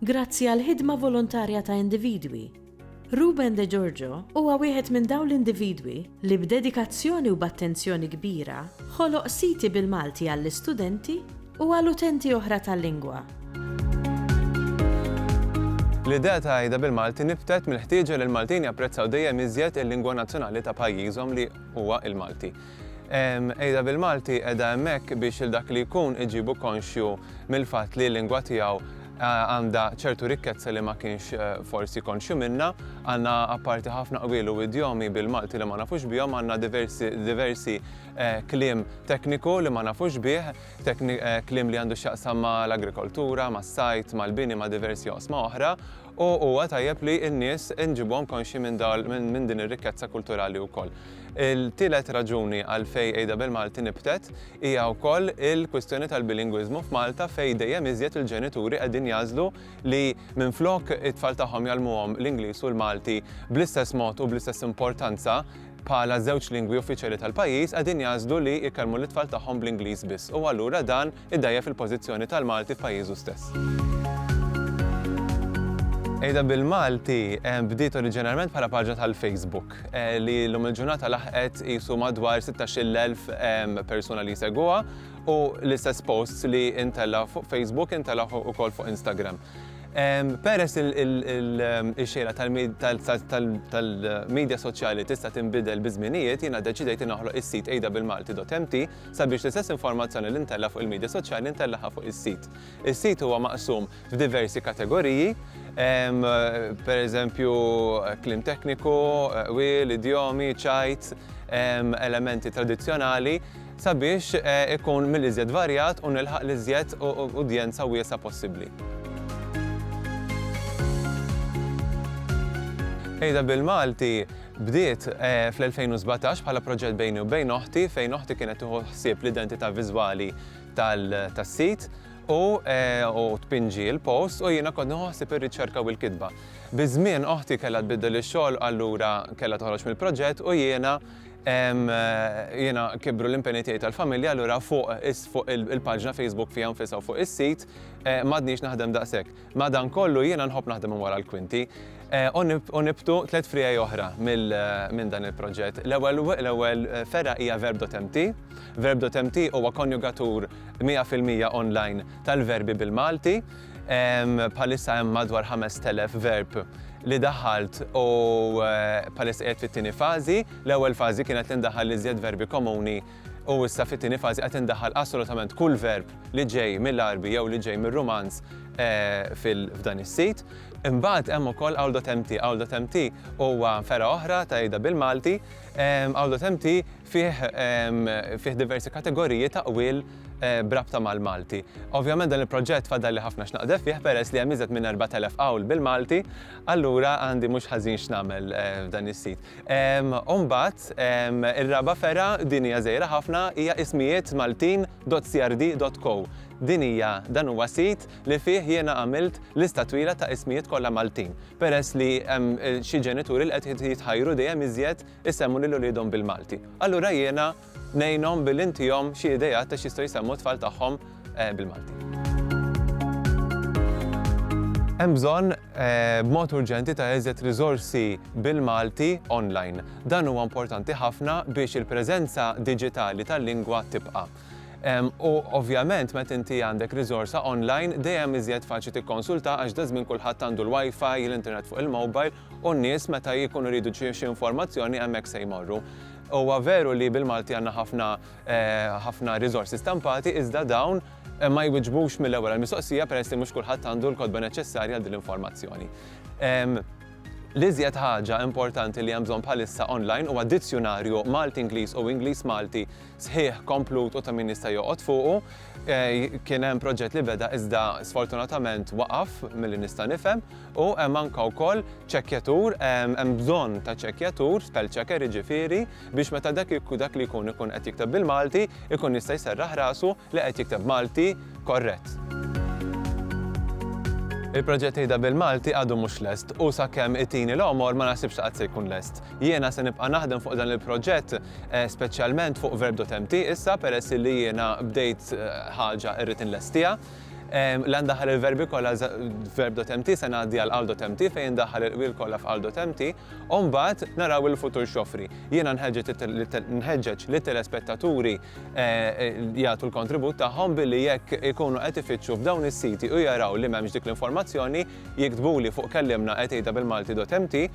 grazzi għall-ħidma volontarja ta' individwi. Ruben De Giorgio huwa wieħed minn dawn l-individwi li b'dedikazzjoni u b'attenzjoni kbira ħoloq siti bil-Malti għall-istudenti u għal utenti oħra tal-lingwa. L-idea ta' għida bil-Malti nibtet mill-ħtieġa li l-Maltin japprezzaw dejjem iżjed il-lingwa nazzjonali ta' pajjiżhom li huwa l-Malti. Qegħda bil-Malti qiegħda hemmhekk biex il dak li jkun iġibu konxju mill-fatt li l-lingwa tiegħu għandha ċertu rikkezza li ma kienx eh, forsi konxju minna, għandna apparti ħafna qbil u idjomi bil-Malti li ma nafux bihom, għandna diversi, diversi eh, klim tekniku li ma nafux bih, eh, klim li għandu xaqsam ma l-agrikoltura, ma s-sajt, ma l-bini, ma diversi osma oħra, U huwa tajjeb li n-nies inġibhom konxji minn dawl, minn, minn din ir-rikkezza kulturali wkoll. Il-tielet raġuni għalfejn Għida bil-Malti nibtet hija wkoll il-kwistjoni tal-bilingwiżmu f'Malta fejn dejjem iżjed il-ġenituri qegħdin jagħżlu li minflok it-tfal tagħhom jgħallmuhom l-Ingliż u l-Malti bl-istess mod u bl-istess importanza bħala żewġ lingwi uffiċjali tal-pajjiż qegħdin jagħżlu li jkellmu lit-tfal tagħhom bl-Ingliż biss u allura dan idgħajjef il-pożizzjoni tal-Malti f'pajjiżu stess. Għida bil-Malti bdiet oriġinarjment bħala paġna tal-Facebook li llum il-ġurnata laħqet qisu madwar 16,000 persuna li jsegwuha u l-istess posts li intellgħu fuq Facebook intellgħu wkoll fuq Instagram. Peress il-xejra tal-midja soċjali tista' tinbidel biż-żminijiet, jiena ddeċidejt li noħloq is-sit għidabilmalti.mt sabiex l-istess informazzjoni li ntella' fuq il-midja soċjali ntellagħha fuq is-sit. Is-sit huwa maqsum f'diversi kategoriji, pereżempju kliem tekniku, qwiel, idjomi, ċajt, elementi tradizzjonali, sabiex ikun mill-iżjed varjat u nilħaq l-iżjed udjenza wiesgħa possibbli. Tgħidha bil-Malti, Bdiet fl-2017 bħala proġett bejni u bejn oħti fejn oħti kienet tieħu ħsieb l-identità viżwali tas-sit u tpinġi l-posts u jiena kont nieħu ħsieb ir-riċerka u l-kitba. Biż-żmien oħti kellha tbiddel ix-xogħol allura kellha toħroġ mill-proġett u jiena jiena kibru l-impenji tiegħi tal-familja allura fuq il-paġna Facebook fiha nfisha u fuq is-sit m'għadniex naħdem daqshekk. Madankollu, jiena nħobb naħdem minn wara l-kwinti u nibtu tliet friegħi oħra minn dan il-proġett. L-ewwel fergħa hija Verb.mt. Verb.mt huwa konjugatur 100% online tal-verbi bil-Malti. Bħalissa hemm madwar 5,000 verb li daħħalt u bħalissa qiegħed fit-tieni fażi. L-ewwel fażi kienet li ndaħħal l-iżjed verbi komuni u issa fit-tieni fażi qed indaħħal assolutament kull verb li ġej mill-Għarbi jew li ġej mir-Rumanz f'dan is-sit. Imbagħad hemm ukoll Awldotemti. Awldotemti huwa fergħa oħra ta' Ejda bil-Malti. Awldotemti fih fih diversi kategoriji ta' qwiel b'rabta mal-Malti. Ovvjament dan il-proġett fadalli ħafna x'naqdef fih peress li hemm iżjed minn 4,000 qawl bil-Malti, allura għandi mhux ħażin x'nagħmel f'dan is-sit. U mbagħad ir-raba' fergħa, din hija żgħira ħafna, hija ismijiet Maltin dot CRD dot Co. Din hija, dan huwa sit li fih jiena għamilt lista twila ta' ismijiet kollha Maltin, peress li hemm xi ġenituri li qed jitħajru dejjem iżjed isemmu lil uliedhom bil-Malti. Allura jiena Ngħinhom billi ntihom xi ideat ta' x'jistgħu jsemmu t-tfal tagħhom bil-Malti. Hemm bżonn b'mod urġenti ta' iżjed riżorsi bil-Malti online. Dan huwa importanti ħafna biex il-preżenza diġitali tal-lingwa tibqa'. U ovvjament meta inti għandek riżorsa online dejjem iżjed faċli tikkonsulta għax daż-żmien kulħadd għandu l-WiFi, l-internet fuq il-mobile, u n-nies meta jkunu jridu xi xi informazzjoni hemmhekk se jmorru. Huwa veru li bil-Malti għandna ħafna ħafna riżorsi stampati iżda dawn ma jwiġbux mill-ewwel għall-mistoqsija peress li mhux kulħadd għandu l-kotba neċċessarja għal din l-informazzjoni. L-iżjed ħaġa importanti li hemm bżonn bħalissa online huwa dizzjunarju Malti-Ingliż u Ingliż-Malti sħiħ, komplut u ta' min jista' joqgħod fuqu. Kien hemm proġett li beda iżda sfortunatament waqaf milli nista' nifhem. U hemm anke wkoll ċekkjatur, hemm bżonn ta' ċekkjatur, spell checker jiġifieri, biex meta dak li jkun ikun qed jikteb bil-Malti, ikun jista' jserraħ rasu li qed jikteb Malti korrett. Il-proġett Ieda bil-Malti għadu mhux lest u sakemm itini l-għomor ma naħsibx li qatt se jkun lest. Jiena se nibqa' naħdem fuq dan il-proġett, speċjalment fuq Verb. Mt issa peress illi jiena bdejt ħaġa irrid inlestiha. Li għandaħħal il-verbi kollha verb dot empty se ngħaddi għal qal dot empty fejn indaħħal il-qwiel kollha f'qal dot empty u mbagħad naraw il-futur x'joffri. Jiena nħeġġeġ lit-telespettaturi jagħtu l-kontribut tagħhom billi jekk ikunu qed ifittxu f'dawn is-siti u jaraw li m'hemmx dik l-informazzjoni jiktbuli fuq kellimna@awbil-malti.mt